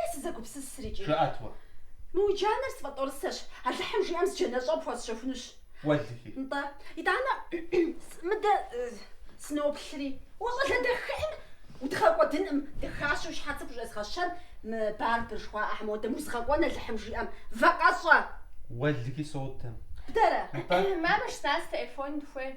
Е сызэгупсысыр икӏи. Жыӏэт уэ. Мы уи джанэр сфӏэтӏорысэщ, Алыхьым жиӏэм зы джанэщӏэ пхуэсщэхунущ. Уэлэхьи. Нтӏэ, итӏанэ мыдэ сыноплъри. Уэ щӏалэ дахэхьэм удгъэкӏуэдынкъым, дахащэу уи щхьэц пхущӏезгъэщэн, мы Барбыр жыхуаӏэхьэм модэ узгъэкӏуэн Алыхьым жиӏэм, вакъэщӏэ. Уэлэхьи содэ. Бдэрэ. Нтӏэ. Мамэ щас телефон дыхуей.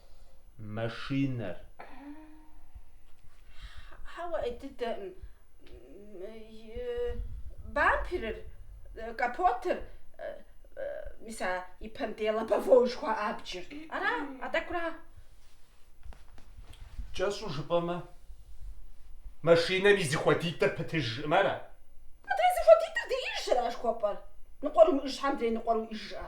машинэр. Хьэуэ, ӏей дыдэкъым, бамперыр, капотыр, мис а ипэм дей лобовой жыхуаӏэ абджыр. Ара, а тӏэкӏура? Кӏэщӏу жыпӏэмэ, машинэм и зыхуэдитӏыр пытыж жыӏэмэ ара? Мыдрей зыхуэдитӏыр диӏыжщ ара жыхуэпӏэр? Ныкъуэр уимыӏыж щхьэ мыдрей ныкъуэр уиӏыж жыӏэ?